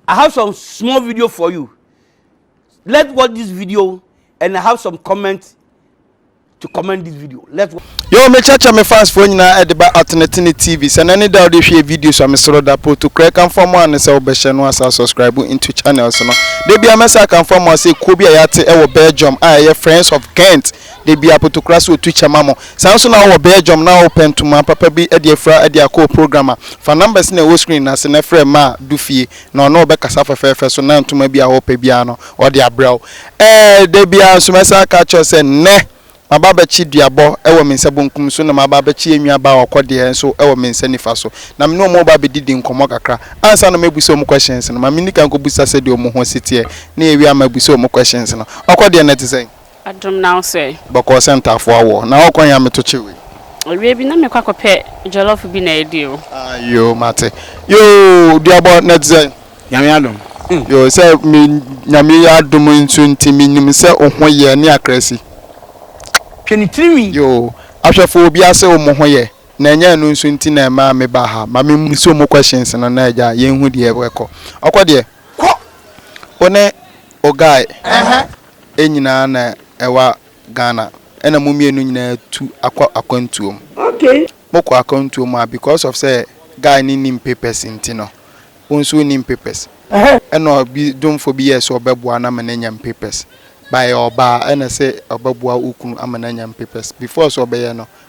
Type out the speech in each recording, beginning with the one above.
I have some small video for you. Let's watch this video and I have some comments to comment this video. Let's watch. Yo, me chacha me fans for nyina e de ba Atenetene TV. Se na ne da de hwe videos a me soro da proto kra kan fa mo an se obehye no asa subscribe into channels no. De bia me sa kan fa mo ase kuo bi a yate e wo Belgium a ye Friends of Ghent. Da biara Potokora sɛ ɔtu kyɛ ma mo. Saa nso na wowɔ Belgium na wopɛ ntoma papa bi de afira de akɔ wo program a, fa numbers na ɛwɔ screen no ase na frɛ Maa du fie na ɔne wo bɛkasa fɛfɛɛfɛ so na ntoma bi a wopɛ biara no ɔde abrɛ wo. Ɛɛ da biara nso mɛsan aka akyerɛ wo sɛ nnɛ maba abɛkye duabɔ wɔ me nsa bonkum so na maba abɛkye yɛn nuabaa Ɔkɔdeɛ nso wɔ me nsa nifa so na me ne wɔn reba abɛdidi nkɔmmɔ kakra. Ansa na mɛbusa wɔn questions no, ma menni kan nkɔbusa sɛdeɛ wɔn ho si teɛ na yɛwie a mɛbusa wɔn questions no. Ɔkɔdeɛ, nnɛ te sɛn? Adom na wo sɛ? Bɔkɔɔ sɛ ntaafoɔ awɔ. Na ɔɔkɔ he a metokye wei? Awia bi na mekɔ akɔpɛ jollof bi na adi o. Ah yoo mate. Yoo duabɔ na ɛte sɛn? Nyame adom. Yoo sɛ me Nyame adom nso nti me nim sɛ wo ho yɛ ne akra si. Hwɛ ne tiri nwi. Yoo ahwɛfoɔ obia se omo ho yɛ na ɛnyɛ ɛno nso nti na ɛmaa me baa ha. Ma me mmusa omo questions no na agya yɛnhu deɛ ɛkɔ. Ɔkɔ deɛ? Kɔ! Wo ne wo guy. Ɛhɛ. nyinaa na ɛwa Ghana ɛna mo mmienu nyinaa tu akɔ akwantuo mu. Okay. Mo kɔ akwantuo mu a because of sɛ guy no nnim papers nti no wo nso wo nnim papers ɛna ɔbi dwomfo bi yɛɛ sɛ ɔbɛboa no ama no anya mpapers but ɛyɛ ɔbaa ɛna sɛ ɔbɛboa wo kunu ama no anya mpapers before sɛ ɔbɛyɛ no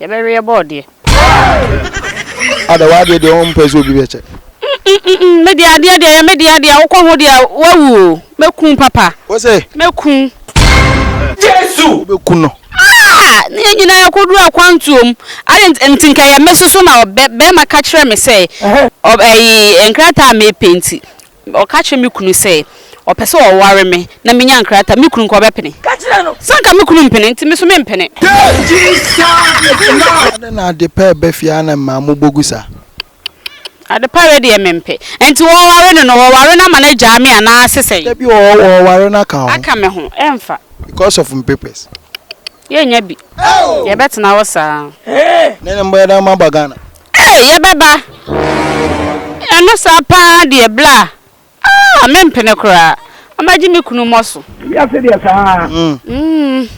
Yɛbɛweɛ bɔɔdeɛ. Ada w'adeɛ deɛ ɔmpɛ sɛ obi bɛkyɛ. Mmm me deɛ adeɛ deɛ yɛ me deɛ deɛ wokɔ ho deɛ wawu o mɛku papa. Wo se. Mɛku. Jesu! Wo bɛ ku no. Aah ne yɛn nyinaa yɛkɔduru akwantuo mu adeɛ nti nti nka ɛyɛ me soso na bɛ bɛɛma ka kyerɛ me sɛ ɔ ɛyi nkrataa a mɛpenti Ɔka kyerɛ me kunu sɛ ɔpɛ sɛ ɔware me na menya nkrataa. Me kunu nka ɔbɛpene? Ka kyerɛ no sɛ anka me kunu mpene nti me so mempene. Adɛn na Adepa reba fie ara na mmaa mobɔ gu saa? Adepa wei deɛ mempɛ. Nti wɔware no no, wɔware no ama no agyaa me anaa se sɛn? Dabi wɔware no aka wo ho. Aka me ho, ɛmfa. Because of me papers? Yɛnnya bi. Yɛbɛtena hɔ saa. Nɛɛnɛ mobɛyɛ dɛn ama aba Ghana? Eii yɛbɛba ɛno saa paa deɛ bla aah mempene koraa ɔmɛgye me kunu mɔso. Wiase deɛ saa. Umm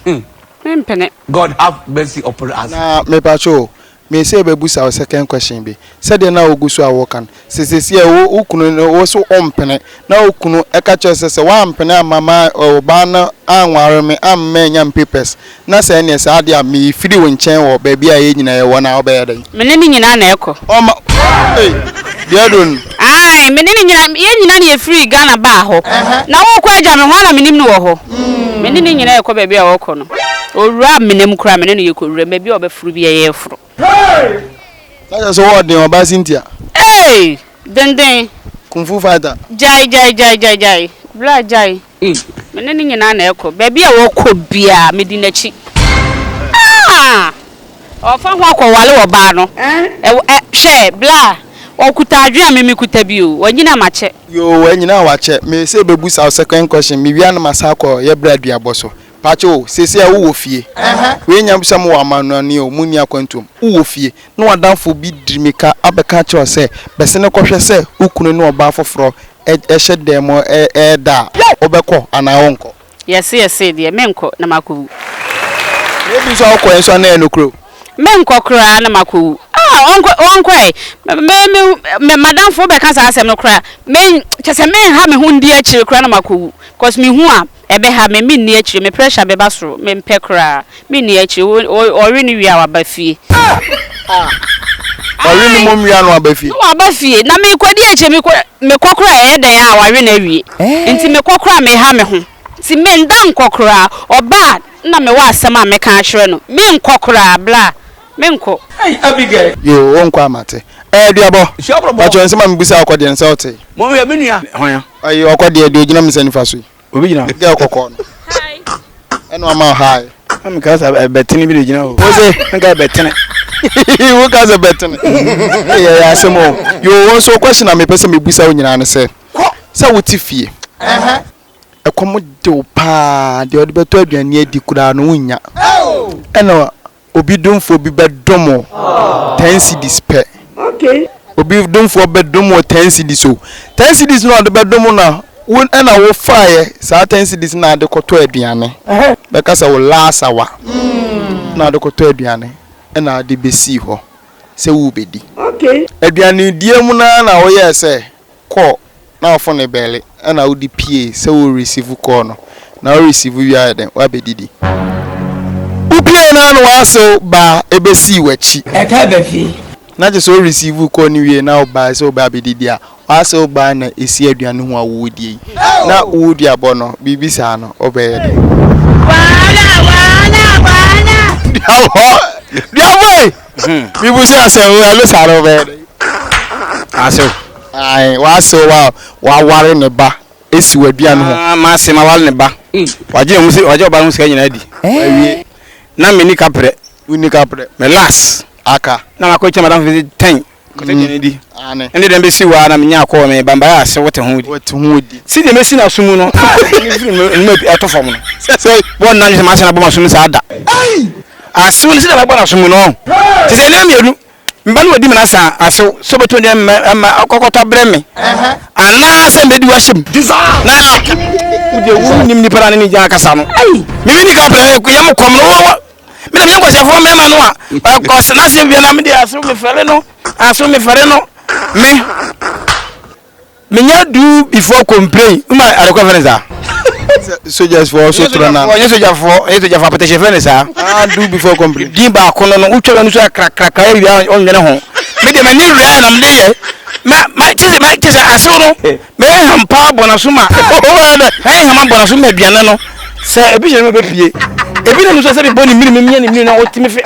mempene. God have mercy upon us. Na mepakyɛw o, me sɛ bɛbusa wo second question bi, sɛdeɛ na wogu so a woka no, Sɛ sɛsiɛ wo wo kunu no wo so wo mpene na wo kunu ɛka kyerɛ sɛ sɛ woampene amma ma ɔbaa no anware me amma mannya me papers na sɛ ɛneɛ saa deɛ a me firi wo nkyɛn wɔ baabi a yɛn nyinaa yɛ wɔ no a wo bɛyɛ dɛn? Me ne no nyinaa na ɛkɔ. Ɔma ei deɛ aduro no. Ae me ne no nyinaa yɛn nyinaa na yɛ firi Ghana baa hɔ na wo kɔ agya me ho a na me nim no wɔ hɔ me ne no nyinaa ɛkɔ baabi a ɔkɔ no owura amena mu koraa me ne no yɛ kɔ wura mu baabi a ɔbɛforo biara yɛ foro. Na kyerɛ sɛ wɔ ɔden ɔbaa Cynthia. Hey! Denden. Kung fu fighter. Gyae gyae gyae gyae gyae. Bra gyae. Me ne ne nyinaa na ɛkɔ. Baabi a ɔkɔ biara me di n'akyi. Ah! Ɔfa ho akɔ wale ɔbaa no. Ɛwɔ ɛ hwɛ bra. Ɔkuta adwene a me me kuta bi o. Wanyini a makyɛ. Yoo wanyini a wakyɛ. Me se bebusa wo second question me wie a na masan akɔ yɛ bra duabɔ so. Pakyɛw o, seesei a wowɔ fie. Wei nyɛ sɛ mowɔ amannɔne o, munni akwantu o, wowɔ fie, na w'adamfo bi de mmirika abɛka akyerɛ wo sɛ, Bɛsene kɔhwɛ sɛ wo kunu ne ɔbaa foforo hyɛ dan mu reda a, wobɛkɔ anaa worenkɔ? Yɛse, Yɛse deɛ, merenkɔ, na makɔwu. Na ebi nso a wokɔeɛ nso a na ɛyɛ nokorɛ o. Merenkɔ koraa, na makɔwu. Ah, ɔnkɔ, ɔnkɔ ɛ. Me, me, me, m'adamfo bɛka saa asɛm no koraa a, me, kyerɛ sɛ merenha me ho ndi akyire koraa na makɔwu, because mehu a, Ɛbɛha me, menni akyire, me pressure bɛba soro, mempɛ koraa, menni akyire, o, ɔwe no wie a waba fie. Ah! Wawe ne mom wie a na waba fie. Na waba fie, na mekɔdi akyire, mekɔ, mekɔ koraa a ɛyɛ dɛn a wawe no awie, eh. nti mekɔ koraa a meha me ho, nti menda nkɔ koraa, ɔba a na mewɔ asɛm a mɛka akyerɛ no, menkɔ koraa, bla, menkɔ. Ei Abigail. Yoo, wonkɔ a mate. Ɛɛ, duabɔ, pakyɛ nsɛm a mebisa wo kɔ deɛ nsɛ wote. Monhwɛ, me nua. Hwan? Ayi ɔkɔ deɛ deɛ ogyina misa nifa so yi. Obi gyina hɔ. Girl kɔkɔɔ no. Hi. Ɛna ɔma o hi. Na mi ka sɛ ɛbɛtene bi de gyina hɔ. Wose. Nka ɛbɛtene. Wo ka sɛ ɛbɛtene. Ɛyɛ yɛ asɛm o. Yoo wɔn so question a mi pɛ sɛ mi busa wo nyinaa ne sɛ. Kɔ. Sɛ wo te fie. Ɛhɛn. Ɛkɔm de wo paa deɛ ɔde bɛtɔ aduane adi koraa no wo nnya. Ɛna Obi domfoɔ bi bɛdom wo ten cedis pɛ. Okay. Obi domfoɔ bɛdom wo ten cedis o. Ten cedis na ɔde bɛdom wo na wo ɛna wo faeɛ saa ten cedis na ade kɔtɔ aduane. Bɛka sɛ wo last hour na ade kɔtɔ aduane ɛna ade bɛsii hɔ sɛ worebɛdi. Okay. Aduanedie mu no ara na woyɛɛ sɛ call na wo phone bɛle ɛna wode pie sɛ wo receive call no na wo receive wie ayɛ dɛn wabɛdidi wo pie no ara na wasew baa ɛbɛsii wakyi Ɛtaa ba fie. na kyerɛ sɛ wo receive call no wie na wo bae sɛ wobɛ abɛdidi a wasew baa na ɛsi aduane ho a woredie yi na woduabɔ no biribi saa no wobɛyɛ dɛn? Wahala wahala wahala. Duabɔ duabɔ ei. Hmm. Bibu sɛ asɛ o ɛlo saa no bɛyɛ dɛ. Asew. Ae w'asew wa w'aware ne ba esi w'aduane ho. Ah ma se ma wale ne ba. Hmm. Wagye ɔmo si wagye ɔba no sika nyinaa di. Wawie. Na me ni kaprɛ. Wonni kaprɛ. Me last. Aka. Na makɔ kyɛ madam fisi ten. Kɔsɛ deɛ no di. Aane. Ɛnde dɛn bɛsi wo ara na menya akɔ wɔ me bambaeɛ ase wote ho di. Wote ho di. Sɛdeɛ mɛsi no aso mu no a ne mfiri no anim ato fam no. Sɛ sɛi. Wɔnna nnwene sɛ m'ase no abɔ m'aso mu saa da. Ei! Asew no sɛdeɛ mɛbɔ no aso mu no. Te sɛ nneɛma mmienu. Me ba no wadi me no asa asew sɛ ɔbɛtumi de me ama akɔtɔ abrɛ me anaa sɛ mɛdi wo ahyɛ mu. Na wo deɛ wonnim nnipa no a ne ne gyaa kasa no. Ei! Mimi ne ka pɛ yɛ mo kɔm no. mena menyɛ nkɔhyɛfoɔ mmarima no a ɔkɔse no aseɛ bia na mede aso mefɛre no aso mefɛre no me menya du before complain woma adekɔ fɛ ne saa soldiers for so toro na ɔnyɛ soja fo ɔnyɛ soja fo apɛtɛhyɛ fɛ ne saa ah do before complain din baako no no wotwa no so akrakrakra awia ɔnwene ho me deɛ m'ani wura na mede yɛ ma ma kyesɛ ma kyesɛ asew no Me hɛnhɛm paa bɔ n'aso ma me hɛnhɛm abɔ n'aso ma aduane no sɛ ebi hyɛ no ma bɛpie ebi nam nso sɛ mebɔ ne mmiri memia ne mmiri na ɔte me fe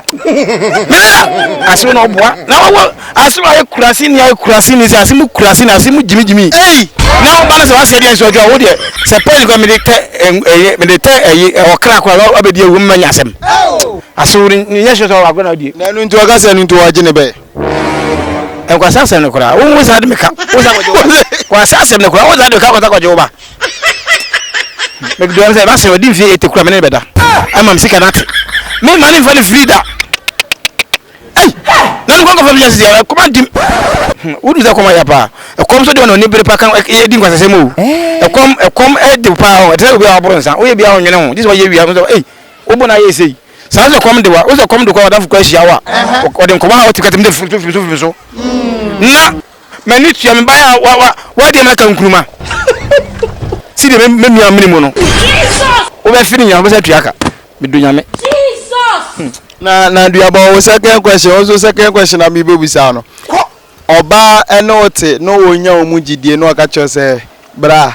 mena ase na ɔboa na wɔwɔ ase no ayɛ kurase ni ayɛ kurase ni sɛ ase mu kurase ni ase mu gyimigyimi ei na ɔba no sɛ waseɛ deɛ nso ɔdwa wo deɛ sɛ pɛn kɔ mede tɛ ɛyɛ mede tɛ ɛyi ɔkra kɔ a wabɛdi awu mma nya asɛm ase wo ne nyɛ hyɛ sɛ ɔwɔ agorɔ na ɔdie na ɛno nti ɔka sɛ ɛno nti wɔagye ne bɛɛ Nkwasi asɛm no koraa wo nsa de meka wo nsa kɔgye wo ba kwasi asɛm no koraa wo nsa de meka kɔsa kɔgye wo ba mekdɔm sɛ basɛ ɔdi mfie ete kura me ne bɛda ama m sika no ate me ma ne mfa ne firi da ei na no kɔnkɔfa bi nya sisi a kɔma ntim wodu sɛ kɔma yɛ paa ɛkɔm so de ɔna ɔni bere pa ka ɛdi nkwasasɛm o ɛkɔm ɛkɔm ɛde paa o ɛte sɛ obi a waboro nsa woyɛ bi a ɔnwene ho gye sɛ wɔyɛ wia ei wobɔ no ayɛ ɛsei Saa ara na sɛ kɔm de wo a, wo sɛ kɔm de kɔ a w'adamfo kura hyia wo a, wɔde nkɔmmɔ a wɔte kɛtɛ mu de firi so firi so firi so. Na m'ani tua me ban a wa wa wadi ama ka nkuruma. Si deɛ me nua mene mu no. Wo bɛ fi ne nyina wo bɛ sɛ tua ka. Me do nyame. Hmm. Na na dua bɔ wo second question wo nso second question na mi bɛ busa no. Ɔbaa ɛne wo te na wɔn nya wɔn mu gyidie na ɔka kyerɛ sɛ bra.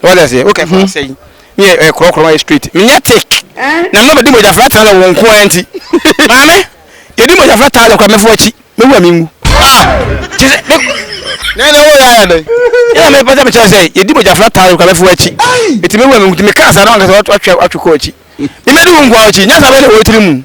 What does it? Okay, for mm-hmm. say. Me a crow crow my street. Me not take. Eh? Na me bedi mo jafra tala wo nko anti. Mame, yedi mo jafra tala kwa me fo achi. Me wa me ngu. Ah. Jese. Na na wo ya ya dai. Ya me pata me cha say yedi mo jafra tala kwa me fo achi. Eti me wa me ngu me ka sa na nka so atwa atwa ko achi. Me me du nko achi. Nya sa be le wo tiri mu.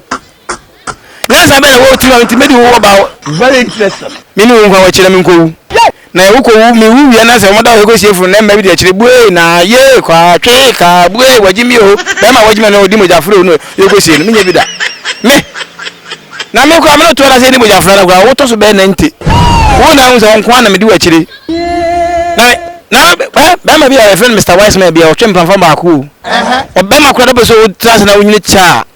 Nyansa bɛn na wɔ wɔ tirim a nti mɛdi wo ɔba hɔ? Very interesting. Me ne wo nkwa wɔ kyerɛ me nkɔwu. Yay! Na yɛ wokɔ wu, me wu wie na sɛ wɔda wo hɔ kɔsie funu na mma bi deɛ kyerɛ buee na yee kwaa twee kaa buee wagye me oo bɛɛma a wagye me no ɔdi mogya foro no yɛ kɔ sie no me nyɛ bi da me na me koraa me no toɔ da sɛ yɛdi mogya foro no koraa wotɔ so bɛɛ na nti wo na ahu sɛ wo nkoa na medi wakyire na na bɛɛma bi a yɛfrɛ no Mr. Wiseman bi a ɔtwe mpamfa baako o ɔbɛɛma koraa da bɛ sɛ wotra ase na wonyini kyɛ a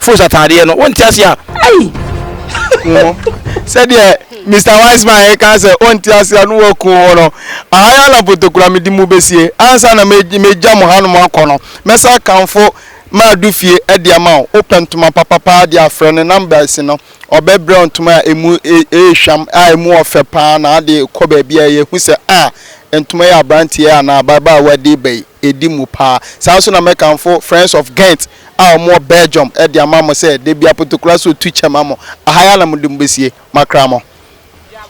Fools ataadeɛ no wonte ase a. Ei! sɛdeɛ Mr Wiseman ɛka sɛ ɔnte ase a no waku ho no ahaya na potokura mede mu bɛsie ansa na mɛgya mo hanom akɔ no mɛsa akamfo maado fie de ama wo wopɛ ntoma papa paa deɛ a frɛ no number asi no ɔbɛbrɛ wo ntoma a ɛmu ɛyɛ hwam a ɛmu ɔfɛ paa na ade kɔ baabi a ɛyɛ hu sɛ a ntoma yɛ aberanteɛ anaa ababaawa de ba yi. ɛdi mu paa. Saa nso na mɛkamfo Friends of Ghent a wɔwɔ Belgium de ama mo sɛ da biara Potokola so tu kyɛ ma mo. Aha yi ara na mode mo bɛsie. Makra mo.